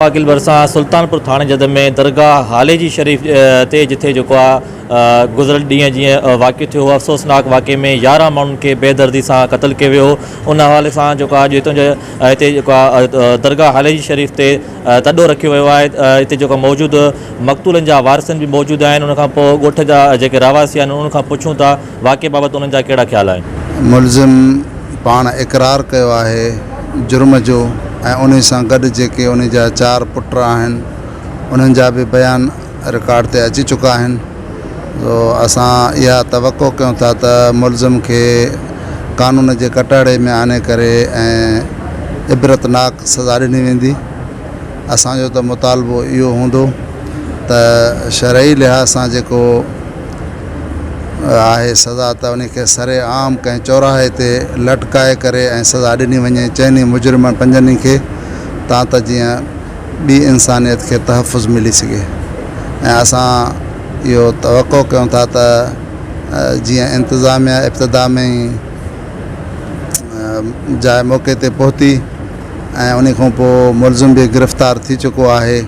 عاقل ڀرسان سلطانپور ٿاڻي جدن ۾ درگاهه هالي جي شريف تي جٿي جيڪو آ گذريل ڏينهن جيئن واقعو ٿيو هو افسوسناڪ واقعي ۾ يارهن ماڻهن کي بي دردي سان قتل ڪيو ويو هو ان حوالي سان جيڪو آ جيتوڻ جو هتي جيڪو آ درگاهه هالي جي شريف تي تڏو رکيو ويو آهي هتي جيڪو موجود مقتولن جا وارثن به موجود آهن ان کان پوء ڳوٺ جا جيڪي رهواسي آهن انهن کان پڇون ٿا واقعي بابت انهن جا ڪهڙا خيال آهن؟ ملزم پاڻ اقرار ڪيو آهي جرم جو ۽ انهي سان گڏ جيڪي انهي جا چار پٽ آهن انهن جا به بيان رڪارڊ تي اچي چڪا آهن سو اسان اها توقع ڪيون ٿا ته ملزم کي قانون جي ڪٽهڙي ۾ آڻي ڪري ۽ عبرتناڪ سزا ڏني ويندي اسان جو ته مطالبو اهو هوندو ته شرعي لحاظ سان جيڪو آهي سزا ته انهي کي سر عام ڪنهن چوراهي تي لٽڪائي ڪري ۽ سزا ڏني وڃي چئني مجرمن پنجني کي تان ته جيئن ٻي انسانيت کي تحفظ ملي سگهي ۽ اسان اهو توقع ڪيون ٿا ته جيئن انتظاميا ابتدا ۾ ئي جاء موقعي تي پهتي ۽ انهي کان پوء ملزم به گرفتار ٿي چڪو آهي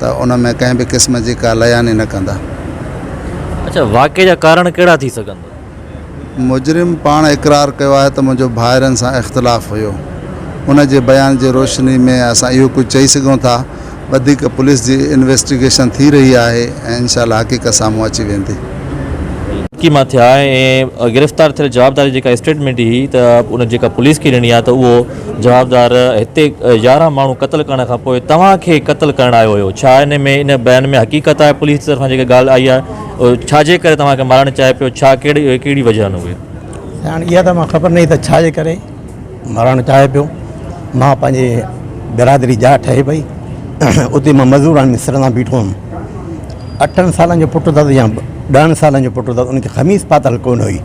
ته ان ۾ ڪنهن به قسم جي ڪا لياني نه ڪندا. اڇا واقعي جا ڪارڻ ڪهڙا ٿي سگهن ٿا؟ مجرم پاڻ اقرار ڪيو آهي ته منهنجو ڀائرن سان اختلاف هيو. ان جي بيان جي روشني ۾ اسان اهو ڪجهه چئي سگهون ٿا. وڌيڪ پوليس جي انويسٽيگيشن ٿي رهي آهي ۽ انشاء الله حقيقت سامهون اچي ويندي. ڪي مان ٿيا ۽ گرفتار ٿيل جوابدار جيڪا اسٽيٽمينٽ هي ته ان جيڪا پوليس کي ڏني آهي ته اهو جوابدار، هتي يارهن ماڻهو قتل ڪرڻ کان پوء توهان کي قتل ڪرڻ آيو هيو، ڇا ان ۾ ان بيان ۾ حقيقت آهي پوليس جي طرفان جيڪا ڳالهه آئي آهي ڇا جي ڪري توهان کي مارڻ چاهي پيو ڇا ڪهڙي ڪهڙي وجهه آهن اهي. سياڻ، اها ته مان خبر ناهي ته ڇا جي ڪري مارڻ چاهي پيو مان پنهنجي برادري جا ٺهي پئي اتي مان مزور ۽ مصر سان بيٺو هيم اٺن سالن جو پٽ اٿس يا ڏهن سالن جو پٽ اٿس ان کي خميس پاتل ڪونه هئي.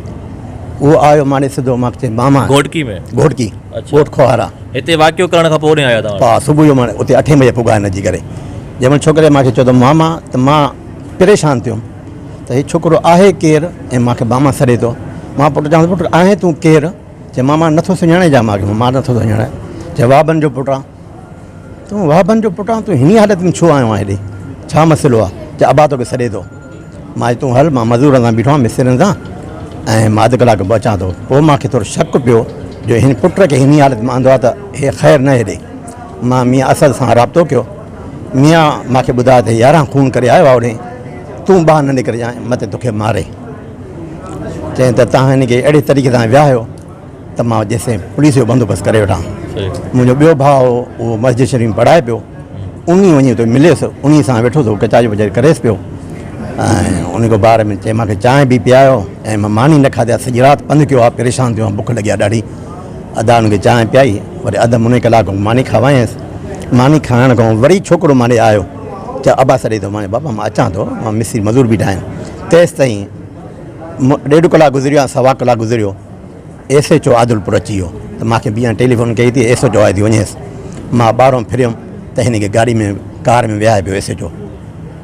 هو آيو ماڙي سڌو مان چيس ماما گهوٽڪي ۾ گهوٽڪي اڇا ڳوٺ کوهارا هتي واقعو ڪرڻ کان پوء هوڏي آيا توهان ها صبح جو مان اتي اٺين بجي پڳا هن جي ڪري جنهن مهل ڇوڪري مان کي چيو ته ماما ته مان پريشان ٿيم ته هي ڇوڪرو آهي ڪير ۽ مان کي ماما سڏي ٿو مان پٽ چوانس پٽ آهين تون ڪير چي ماما نٿو سڃاڻي جا مان کي مان نٿو سڃاڻي چي وابن جو پٽ آن تون وابن جو پٽ آن تون هني حالت ۾ ڇو آيو آهين هيڏي ڇا مسئلو آهي چي ابا توکي سڏي ٿو مائي تون هل مان مزورن سان بيٺو آهيان مسترين سان ۽ مان اڌ ڪلاڪ ۾ پهچان ٿو. پوء مان کي ٿورو شڪ پيو جو هن پٽ کي هني حالت ۾ آندو آهي ته هي خير نه هيڏي. مان ميان اسد سان رابطو ڪيو. ميان مان کي ٻڌايو ته هي يارهن خون ڪري آيو آهي هوڏي تون ٻاهر نه نڪرجانء مته توکي ماري. چيائين ته توهان هن کي اهڙي طريقي سان ويهايو. ته مان جيسين پوليس جو بندوبست ڪري وٺان منهنجو ٻيو ڀاء هو اهو مسجد شريف ۾ پڙهائي پيو ان ئي وڃي اتي مليس ان ئي سان ويٺو ته ڪچاري وچاري ڪريس پيو ۽ ان کي بار ۾ چي مانکي چانهه به پيايو ۽ مان ماني نه کاڌي آ سڄي رات پنڌ ڪيو آ پريشان ٿيو آ بک لڳي آ ڏاڍي ادا ان کي چانهه پيائي وري اڌ مني ڪلاڪ کان ماني کاوايس ماني کائڻ کان وري ڇوڪرو مان ڏي آيو چا ابا سڏي ٿو مان بابا مان اچان ٿو مان مصري مزور بيٺا آهن تيس تائين ڏيڍ ڪلاڪ گذريو آ سوا ڪلاڪ گذريو ايس ايڇ او عادلپور اچي ويو ته مان کي بيان ٽيليفون ڪئي ته ايس ايڇ او آيو ٿي وڃيس مان ٻاهران ڦريم ته هن کي گاڏي ۾ ڪار ۾ ويهاري پيو ايس ايڇ او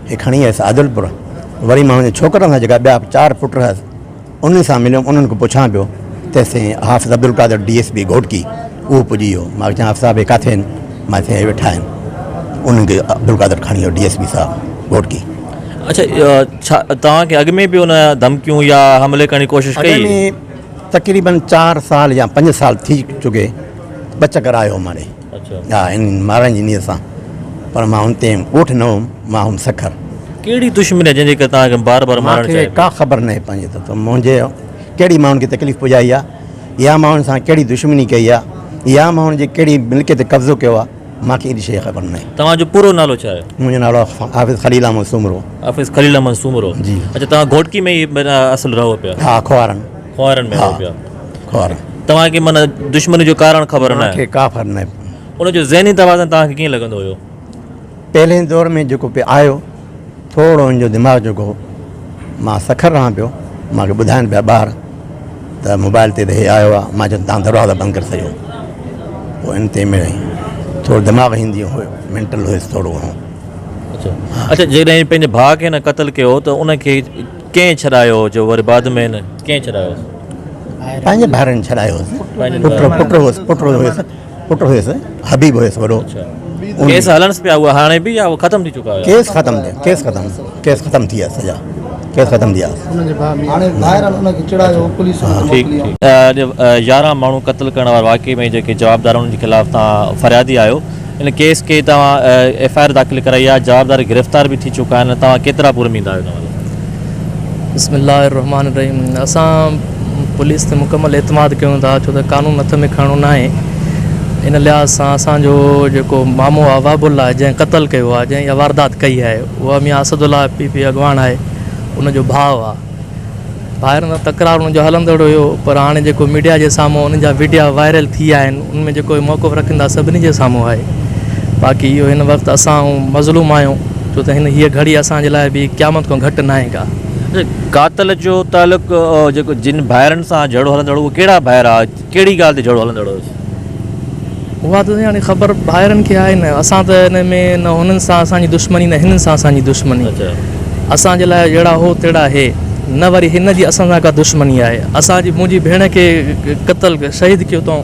کي کڻي ويس عادلپور وري مان پنهنجي ڇوڪرن سان جيڪا ٻيا چار پٽ رهيس انهن سان مليم انهن کان پڇان پيو تيستائين Hafiz Abdul Qadir D S P Ghotki اهو پڄي ويو مان کي چيائين حافظ صاحب هي ڪاٿي آهن مان چيائين هي ويٺا آهن انهن کي عبدالقادر کڻي ويو ڊي ايس پي صاحب گهوٽڪي اچا ڇا توهان کي اڳ ۾ به ان ڌمڪيون يا حملي ڪرڻ جي ڪوشش ڪئي؟ اڳ ۾ تقريباً چار سال يا پنج سال ٿي چڪي ٻه چڪر آيو ماري ها ان مارڻ جي نيت سان پر مان ان تي ڳوٺ نه هوم مان هوم سکر. ڪهڙي دشمني آهي جنهن جي ڪري توهان کي بار بار مارڻ چاهي ٿو؟ مون کي ڪا خبر ناهي پنهنجي طرف تان منهنجي ڪهڙي ماڻهن کي تڪليف پڄائي آهي يا مان ان سان ڪهڙي دشمني ڪئي آهي يا مان ان جي ڪهڙي ملڪيت تي قبضو ڪيو آهي. مان کي ايڏي شيء جي خبر ناهي. توهان جو پورو نالو ڇا آهي؟ منهنجو نالو حافظ خليل احمد سومرو. حافظ خليل احمد سومرو جي. اڇا توهان گهوٽڪي ۾ ئي معنيٰ اصل رهو پيا. ها کوهارن. کوهارن ۾ رهو پيا. ها کوهارن. توهان کي معنيٰ دشمني جو ڪارڻ خبر ناهي. مونکي ڪا خبر ناهي. ان جو ذهني توازن توهان کي ڪيئن لڳندو هيو؟ پهرين دور ۾ جيڪو پي آيو. ٿورڙو هن جو دماغ جو گو مان سکر رهان پيو مان کي ٻڌائن پيا ٻار ته موبائل تي ته هي آيو آهي مان چيم تان دروازا بند ڪري سگهيو پوء ان تي مڙئي ٿورو دماغ هن جي هو مينٽل هيس ٿورڙو گهڻو اچا جيڪڏهن پنهنجي ڀاء کي هن قتل ڪيو ته ان کي ڪنهن ڇڏايو جو وري بعد ۾ هن ڪنهن ڇڏايو پنهنجي ڀائرن ڇڏايو هيس پٽ پٽ هيس پٽ هيس پٽ هيس حبيب هيس وڏو ڪيس هلنس پيا هو هاڻي به يا ختم ٿي چڪا هيا ڪيس ختم ٿي ڪيس ختم ڪيس ختم ٿي ويا سڄا ڪيس ختم ٿي ويا يارهن ماڻهو قتل ڪرڻ واري واقعي ۾ جيڪي جوابدار انهن جي خلاف توهان فريادي آهيو ان ڪيس کي توهان ايف آء آر داخل ڪرائي آهي جوابدار گرفتار به ٿي چڪا آهن توهان ڪيترا پورميد آهيو بسم الله الرحمٰن الرحيم اسان پوليس تي مڪمل اعتماد ڪيون ٿا ڇو ته قانون هٿ ۾ کڻڻو ناهي ان لحاظ سان اسان جو جيڪو مامو آهي وهب الله جنهن قتل ڪيو آهي جنهن اها واردات ڪئي آهي اها Mian Asadullah P P اڳواڻ آهي ان جو ڀاء آهي ڀائرن سان تڪرار انهن جو هلندڙ هيو پر هاڻي جيڪو ميڊيا جي سامهون انهن جا وڊيا وائرل ٿي آهن ان ۾ جيڪو هي موقف رکن ٿا سڀني جي سامهون آهي باقي اهو هن وقت اسان هون مظلوم آهيون ڇو ته هن هيء گهڙي اسان جي لاء به قيامت کان گهٽ ناهي ڪا. قاتل جو تعلق جيڪو جن ڀائرن سان جهيڙو هلندڙ هو ڪهڙا ڀائر آهي؟ ڪهڙي ڳالهه تي جهيڙو هلندڙ هيس؟ اها ته هاڻي خبر ڀائرن کي آهي نه. اسان ته ان ۾ نه هنن سان اسان جي دشمني نه هنن سان اسان جي دشمني. اسان جي لاء جهڙا هو تهڙا هي. نه وري هن جي اسان سان ڪا دشمني آهي. اسان جي منهنجي ڀيڻ کي قتل، شهيد ڪيو اٿئون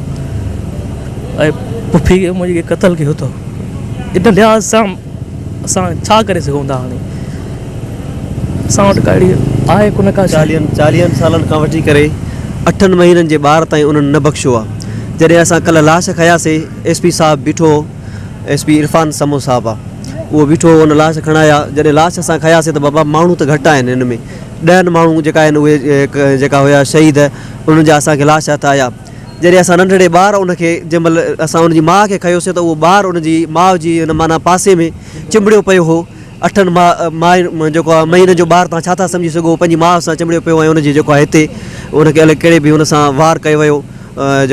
۽ پڦي منهنجي کي قتل ڪيو اٿئون. ان لحاظ سان اسان ڇا ڪري سگهون ٿا هاڻي اسان وٽ ڪا اهڙي آهي ڪونه ڪا شيء. چاليهن سالن کان وٺي ڪري اٺن مهينن جي ٻار تائين انهن نه بخشيو آ جڏهن اسان ڪلهه لاش کيا سي ايس پي صاحب بيٺو هو ايس پي عرفان سمون صاحب آ اهو بيٺو هو ان لاش کڻايا جڏهن لاش اسان کيا سي ته بابا ماڻهو ته گهٽ آهن ان ۾ ڏهن ماڻهو جيڪا آهن اهي جيڪا هيا شهيد انهن جا اسان کي لاش هٿ آيا جڏهن اسان ننڍڙي ٻار ان کي جنهن مهل اسان ان جي ماء کي کنيوسين ته اهو ٻار ان جي ماء جي ان معنيٰ پاسي ۾ چنبڙيو پيو هو اٺن ماء ماء جيڪو آهي مهينن جو ٻار تان ڇا ٿا سمجهي سگهو پنهنجي ماء سان چنبڙيو پيو ۽ ان جي جيڪو آهي هتي ان کي الئي ڪهڙي بي هن سان وار ڪيو ويو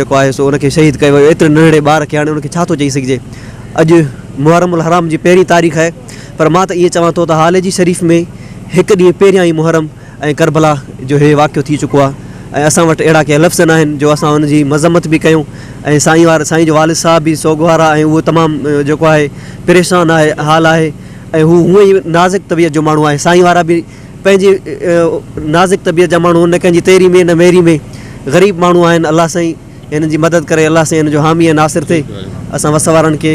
جيڪو آهي سو ان کي شهيد ڪيو ويو ايتري ننڍڙي ٻار کي هاڻي ان کي ڇا ٿو چئي سگهجي اڄ محرم الحرام جي پهرين تاريخ آهي پر مان ته ائين چوان ٿو ته هاليجي شريف ۾ هڪ ڏينهن پهريان ئي محرم ۽ ڪربلا جو هي واقعو ٿي چڪو آهي ۽ اسان وٽ اهڙا ڪي لفظ ناهن جو اسان ان جي مذمت به ڪيون ۽ سائين وار سائين جو والد صاحب به سوگوار آهي ۽ اهو تمام جيڪو آهي پريشان آهي حال آهي ۽ هو هونء ئي نازڪ طبيعت جو ماڻهو آهي سائين وارا به پنهنجي نازڪ طبيعت جا ماڻهو نه ڪنهن جي تيري ۾ نه ميري ۾ غريب ماڻهو آهن الله سائين هنن جي مدد ڪري الله سائين هنن جو حامي ۽ ناصر ٿئي اسان وس وارن کي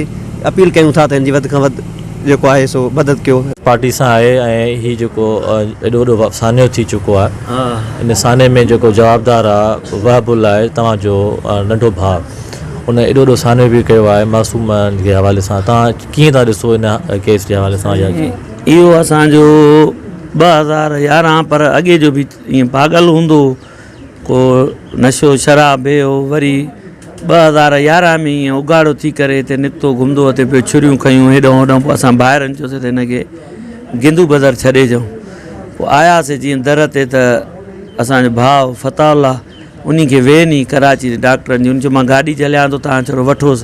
اپيل ڪيون ٿا ته هن جي وڌ کان وڌ جيڪو آهي سو مدد ڪيو. پارٽي سان آهي ۽ هي جيڪو ايڏو وڏو سانحو ٿي چڪو آهي ان سانحي ۾ جيڪو جوابدار آهي وهب الله آهي توهان جو ننڍو ڀاء ان ايڏو وڏو سانحو به ڪيو آهي معصوم جي حوالي سان توهان ڪيئن ٿا ڏسو ان ڪيس جي حوالي سان يا جيئن اهو اسان جو ٻه هزار يارهن پر اڳي جو به ائين پاڳل هوندو هو ڪو نشو شراب به هو وري ٻه هزار يارهن ۾ ائين اگهاڙو ٿي ڪري هتي نڪتو گهمندو هتي پيو ڇريون کنيون هيڏانهن هوڏانهن پوء اسان ڀائرن چيوسين ته هن کي گندو بدر ڇڏي اچون پوء آياسي جيئن در تي ته اسانجو ڀاء فتاح الله انهي کي وين هئي ڪراچي جي ڊاڪٽرن جي ان چيو مان گاڏي جهليان ٿو تهان ڇڙو وٺوس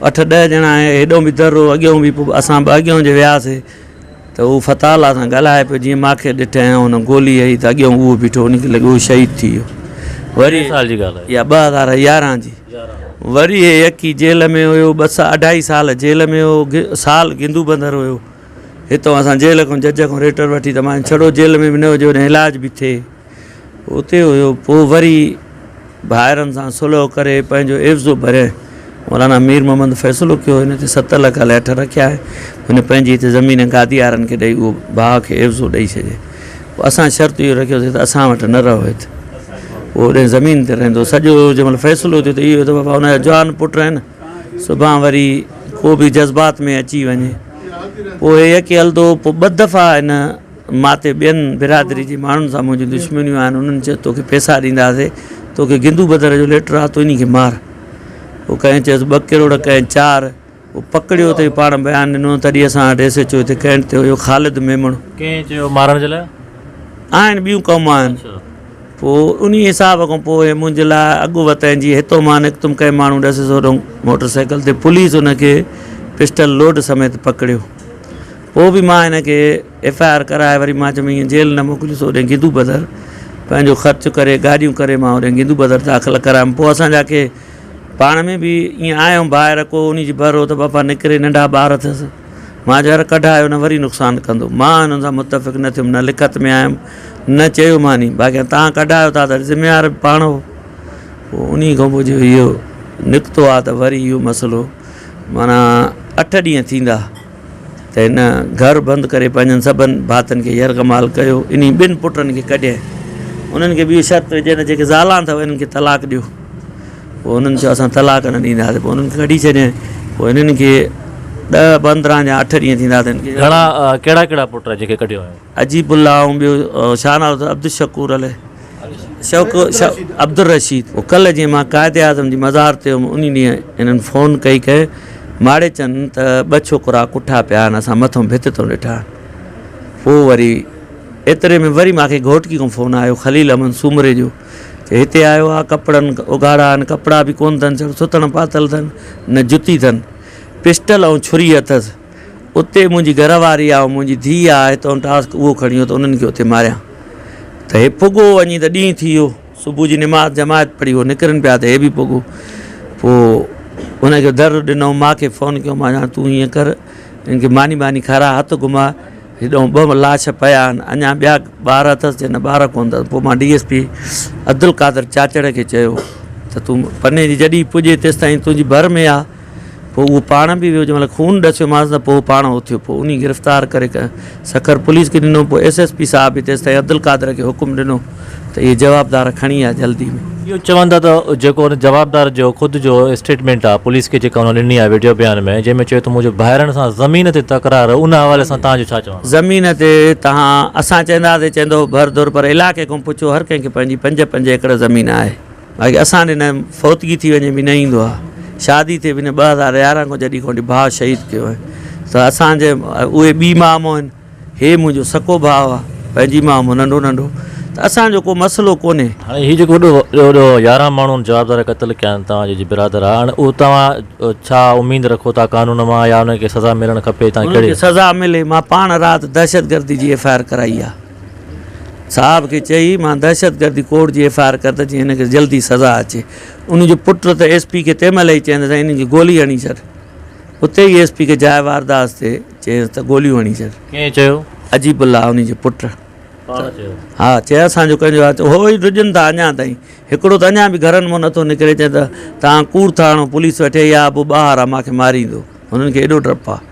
اٺ ڏهه ڄڻا هيڏانهن به در هو اڳيانهون به پوء اسان به اڳيانهون جي وياسي ته هو فتح الله سان ڳالهائي پيو، جيئن ماکي ڏٺ ۽ هن گولي هئي ته اڳيئون اهو بيٺو هو، ان کي لڳو هو شهيد ٿي ويو. وري هي سال جي ڳالهه آهي. اها ٻه هزار يارهن جي. وري هي يڪي جيل ۾ هيو، ٻه سا اڍائي سال جيل ۾ هيو، سال گندو بندر هيو. هتئون اسان جيل کان جج کان ريٽر وٺي ته مانيو ڇڙو جيل ۾ به نه هجي، هوڏانهن علاج به ٿئي. اتي هيو پوء وري ڀائرن سان صلح ڪري پنهنجو عيوض ڀري مولانا مير محمد فيصلو ڪيو هن تي ست لک ليٺ رکيا آهي هن پنهنجي هتي زمين گاديارن کي ڏئي اهو ڀاء کي عيوض ڏئي ڇڏي پوء اسان شرط اهو رکيوسي ته اسان وٽ نه رهو هت اهو هن زمين تي رهندو سڄو جنهن مهل فيصلو ٿيو ته اهو ته بابا هن جا جوان پٽ آهن سڀان وري ڪو به جذبات ۾ اچي وڃي پوء هي يڪي هلدو پوء ٻه دفعا هن مان تي ٻين برادري جي ماڻهن سان منهنجون دشمنيون آهن، انهن چيس توکي پيسا ڏينداسين، توکي گندو بدر جو ليٽر آ، تون انهي کي مار. پوء ڪنهن چيس ٻه ڪروڙ، ڪنهن چار. پوء پڪڙيو تئين پاڻ بيان ڏنو، تڏهن اسان وٽ ايس ايڇ او هتي ڪينٽ تي هيو خالد ميمڻ. ڪنهن چيو مارڻ جي لاء؟ آهن ٻيون قومون آهن. پوء انهي حساب کان پوء منهنجي لاء اڳ وتين جي هتون مان نڪتم ڪئين ماڻهو ڏسيس هوڏهون موٽر سائيڪل تي پوليس انهن کي پسٽل لوڊ سميت پڪڙيو. پوء به مان هن کي ايف آء آر ڪرائي وري مان چيم ايئن جيل نه موڪليس اوڏي گدو بدر پنهنجو خرچ ڪري گاڏيون ڪري مان اوڏي گدو بدر داخل ڪرايم پوء اسان جا کي پاڻ ۾ به ايئن آء هيم ڀائر ڪو انهي جي ڀر هو ته بابا نڪري ننڍا ٻار اٿس مان چيو يار ڪڍايو نه وري نقصان ڪندو مان هنن سان متفق نه ٿيم نه لکت ۾ آيم نه چيو ماني باقي هان تان ڪڍايو ٿا ته ذميوار به پاڻ هو پوء انهي کان پوء جو اهو نڪتو آ ته وري اهو مسئلو معنيٰ اٺ ڏينهن ٿيندا ته هن گهر بند ڪري پنهنجن سڀن ڀاتن کي يرغمال ڪيو انهي ٻن پٽن کي ڪڍيائين انهن کي به اهو شرط وجهي ته جيڪي زالان اٿو انهن کي طلاق ڏيو پوء انهن چيو اسان طلاق نه ڏينداسين پوء انهن کي ڪڍي ڇڏيائين پوء انهن کي ڏهه پندرهن جا اٺ ڏينهن ٿيندا ته انهن کي گهڻا ڪهڙا ڪهڙا پٽ جيڪي ڪڍيو هيو. عجيب الله ۽ ٻيو شاهه ناز عبدالشڪور علي شوق عبدالرشيد ڪلهه جي مان قائد اعظم جي مزار تي هيم انهي ڏينهن هنن فون ڪئي ڪئي ماڙي چن ته ٻه ڇوڪرا ڪٺا پيا آهن اسان مٿو ڀت تون ڏٺا پوء وري ايتري ۾ وري ماکي گهوٽڪي کان فون آيو خليل احمد سومري جو چي هتي آيو آ ڪپڙن اگهاڙا آهن ڪپڙا به ڪون اٿن سڻ سٿڻ پاتل اٿن نه جتي اٿن پسٽل ۽ ڇري اٿس اتي منهنجي گهر واري آ ۽ منهنجي ڌيء آ، هتئون ٽاسڪ اهو کڻيو ته انهن کي اتي ماريان ته هي پڳو وڃي ته ڏينهن ٿي ويو، صبح جي نماز جماعت پڙهي هو نڪرن پيا ته هي به پڳو پوء هن کي در ڏنئون ماء کي فون ڪيو مان جان تون هيئن ڪر هن کي ماني ٻاني کاراء هٿ گهماء هيڏئون ٻه لاش پيا آهن اڃا ٻيا ٻار اٿس جنهن ٻار ڪونه اٿس پوء مان D S P Abdul Qadir Chachar کي چيو ته تون پني جي جڏهن پڄي تيستائين تنهنجي ڀر ۾ آ. پوء اهو پاڻ به ويو، جنهن مهل خون ڏسيومانس نه پوء اهو پاڻ اٿيو، پوء انهي گرفتار ڪري سکر پوليس کي ڏنو، پوء ايس ايس پي صاحب به تيستائين عبدالقادر کي حڪم ڏنو ته اهي جوابدار کڻي آ جلدي ۾. اهو چون ٿا ته جيڪو ان جوابدار جو خود جو اسٽيٽمينٽ آ پوليس کي جيڪا هن ڏني آ وڊيو بيان ۾ جنهن ۾ چيو ته منهنجو ڀائرن سان زمين تي تڪرار ان حوالي سان توهان جو ڇا چوڻ آ؟ زمين تي توهان اسان چئنداسين چئندو ڀر ڌر پر علائقي کان پڇو هر ڪنهن کي پنهنجي پنج پنج ايڪڙ زمين آهي. اگي اسان ڏي نه فوتگي ٿي وڃي به نه ايندو آ شادي ٿي به نه ٻه هزار يارهن کان جڏي کان ڀاء شهيد ڪيو آهي ته اسان جي اهي ٻي ماء مون آهن هي منهنجو سڪو ڀاء آ پنهنجي ماء مون ننڍو ننڍو ته اسان جو ڪو مسئلو ڪونهي. هاڻي هي جيڪو وڏو وڏو يارهن ماڻهن جوابدار قتل ڪيا آهن توهان جي جي برادر آ هاڻي اهو توهان ڇا اميد رکو ٿا قانون مان يا انهن کي سزا ملڻ کپي تان ڪهڙي انهن کي سزا ملي مان پاڻ رات دهشتگردي جي ايف آء آر ڪرائي آ. صاحب کي چئي مان دهشتگردي ڪوڊ جي ايف آء آر ڪندس جيئن هن کي جلدي سزا اچي. ان جو پٽ ته ايس پي کي تنهن مهل ئي چيائين ته سائين انهن کي گولي هڻي ڇڏ. اتي ئي ايس پي کي جاء وارداس تي چيس ته گوليون هڻي ڇڏ. ڪنهن چيو؟ عجيب الله انهي جي پٽ. پاڻ چيو؟ ها چيس اسان جو ڪنهن جو آهي. هو ئي ڊڄن ٿا اڃا تائين. هڪڙو ته اڃا به گهرن مان نه ٿو نڪري چئن ته توهان ڪوڙ ٿا هڻو پوليس ويٺي آهي يا ابو ٻاهر آهي مان کي ماريندو. هنن کي ايڏو ڊپ آهي.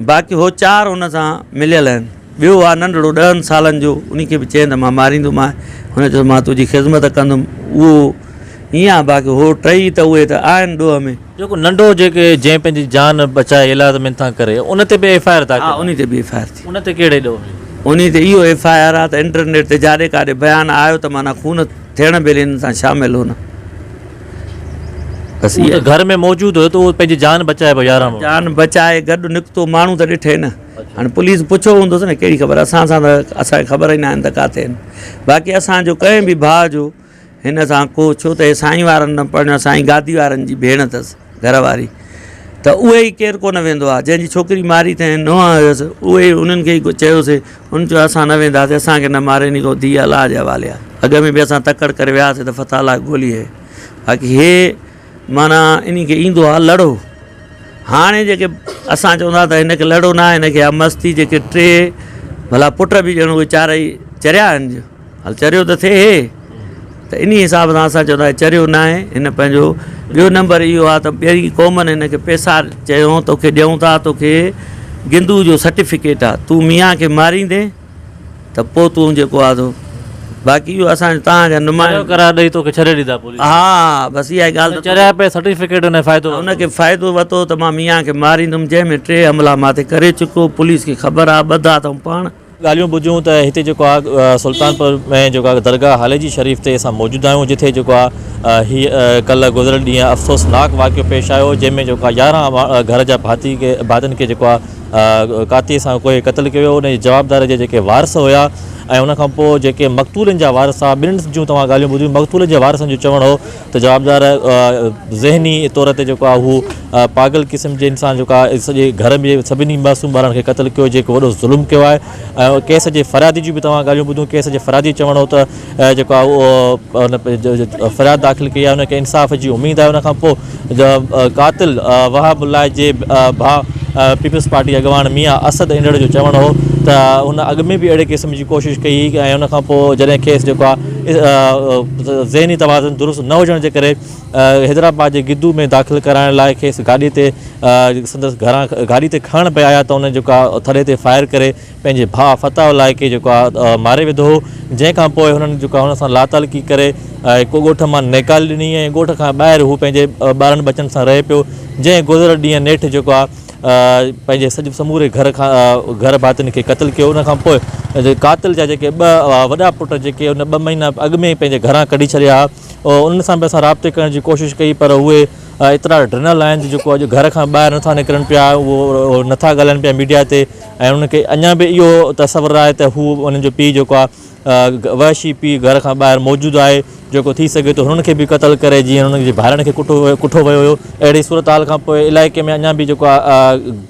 باقي هو چار هن سان مليل آهن. ٻيو آهي ننڍڙو ڏهن سالن جو، ان کي به چئين ته مان ماريندومانء. هن چيس مان تنهنجي خذمت ڪندم. اهو ائين آهي باقي هو ٽئي ته اهي ته آهن ڏوهه ۾. جيڪو ننڍو جيڪي جنهن پنهنجي جان بچائي ايلاز مينٿان ڪري ان تي به ايف آء آر داخل آهي. ها ان تي به ايف آء آر ٿي. ان تي ڪهڙي ڏوهه ۾؟ ان تي اهو ايف آء آر آهي ته انٽرنيٽ تي جاڏي ڪاڏي بيان آيو ته معنيٰ خون ٿيڻ ڀيلي هن سان شامل هو نه. بس اهي گهر ۾ موجود هيو ته اهو پنهنجي جان بچائي پيو يارهن ماڻهو جان بچائي گڏ نڪتو ماڻهو ته ڏٺي نه هاڻي پوليس پڇيو هوندس نه ڪهڙي خبر اسان سان ته اسان کي خبر ئي ناهن ته ڪاٿي آهن باقي اسان جو ڪنهن به ڀاء جو هن سان ڪو ڇو ته هي سائين وارن نه پرڻيو سائين گادي وارن جي ڀيڻ اٿس گهر واري ته اهي ئي ڪير ڪونه ويندو آ جنهن جي ڇوڪري ماري ٿئين نونهن هيس اهي ئي انهن کي ئي چيوسي انهن چيو اسان نه وينداسي اسان کي نه ماري ني ڪو ڌيء الله جي حوالي آ اڳ ۾ به اسان تڪڙ ڪري وياسي ته فتح الله گولي هي باقي هي معنيٰ انهن کي ايندو آ لڙو هاڻي جيڪي اسان چوندا ته هن کي لڙو نه آ هن کي آ مستي جيڪي ٽي ڀلا پٽ به ڄڻ اهي چارئي چريا آهن هل چريو ته ٿئي هي ته انهي حساب سان اسان چوندا هي چريو ناهي هن پنهنجو ٻيو نمبر اهو آ ته ٻئي قومن هن کي پيسا چيون توکي ڏيون ٿا توکي گندو جو سرٽيفڪيٽ آ تون ميان کي ماريندي ته پو تون جيڪو آ سو باقي اهو اسان جو توهان جا نمائندا چريو قرار ڏئي توکي ڇڏي ڏيندا پوليس وارا ها بس اها ئي ڳالهه ته چريا پئي سرٽيفڪيٽ هن فائدو ورتو هن کي فائدو ورتو ته مان ميان کي ماريندم جنهن ۾ ٽي حملا ماٿي ڪري چڪو پوليس کي خبر آ ٻڌا اٿئون پاڻ. ڳالهيون ٻڌيون ته هتي جيڪو آ سلطانپور ۾ جيڪو آ درگاهه هالي جي شريف تي اسان موجود آهيون جتي جيڪو آ هي ڪلهه گذريل ڏينهن افسوسناڪ واقعو پيش آيو جنهن ۾ جيڪو آ يارهن گهر جا ڀاتي کي ڀاتين کي جيڪو آ ڪاتي سان ڪوئي قتل ڪيو ويو ان جي جوابدار جي جيڪي وارث هيا ۽ ان کان پوء جيڪي مقتولن جا وارث آ ٻنهي جون توهان ڳالهيون ٻڌيون مقتولن جي وارثن جو چوڻ هو ته جوابدار ذهني طور تي جيڪو آهي اهو پاگل قسم جي انسان جيڪو آهي سڄي گهر ۾ سڀني معصوم ٻارن کي قتل ڪيو جيڪو وڏو ظلم ڪيو آهي ۽ ڪيس جي فريادي جون به توهان ڳالهيون ٻڌيون ڪيس جي فريادي چوڻ هو ته جيڪو آهي اهو ان فرياد داخل ڪئي آهي ان کي انصاف جي اميد آهي ان کان پوء قاتل وهاب الله جي ڀاء پيپلز پارٽي اڳواڻ ميان اسد انڙ جو چوڻ هو ته هن اڳ ۾ به اهڙي قسم جي ڪوشش ڪئي هئي ۽ ان کان پوء جڏهن کيس جيڪو آهي ذهني توازن درست نه هجڻ جي ڪري حيدرآباد جي گدو ۾ داخل ڪرائڻ لاء کيس گاڏي تي سندس گهران گاڏي تي کڻڻ پئي آيا ته ان جيڪو آهي ٿڙي تي فائر ڪري پنهنجي ڀاء فتح الله کي جيڪو آهي ماري وڌو هو جنهن کان پوء هنن جيڪو هن سان لاتعلقي ڪري ڪو ڳوٺ مان نيڪالي ڏني ۽ ڳوٺ کان ٻاهر هو پنهنجي ٻارن ٻچن سان رهي پيو جنهن گذريل ڏينهن نيٺ جيڪو آهي پنهنجي سموري گهر کان گهر ڀاتين کي قتل ڪيو ان کانپوء قاتل جا جيڪي ٻه وڏا پٽ جيڪي ان ٻه مهينا اڳ ۾ پنهنجي گهران ڪڍي ڇڏيا هئا انهن سان به اسان رابطي ڪرڻ جي ڪوشش ڪئي پر اهي ايترا ڊنل آهن جو جيڪو اڄ گهر کان ٻاهر نٿا نڪرن پيا اهو نٿا ڳالهائن پيا ميڊيا تي ۽ انهن کي اڃا به اهو تصور آهي ته هو انهن جو پيء جيڪو آهي وحشي پيء گهر کان ٻاهر موجود آهي، جيڪو ٿي سگهي ٿو هنن کي به قتل ڪري جيئن هنن جي ڀائرن کي ڪٺو ويو هيو. اهڙي صورتحال کان پوء علائقي ۾ اڃا به جيڪو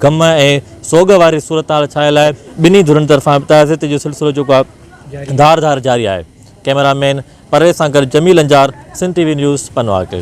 غم ۽ سوڳ واري صورتحال ڇانيل آهي. ٻنهي ڌرين طرفان تعزيتي جو سلسلو جيڪو آهي ڌار ڌار جاري آهي. ڪئميرا مين پرويز سان گڏ Jamil Anjar Sindh T V news پنواڪي.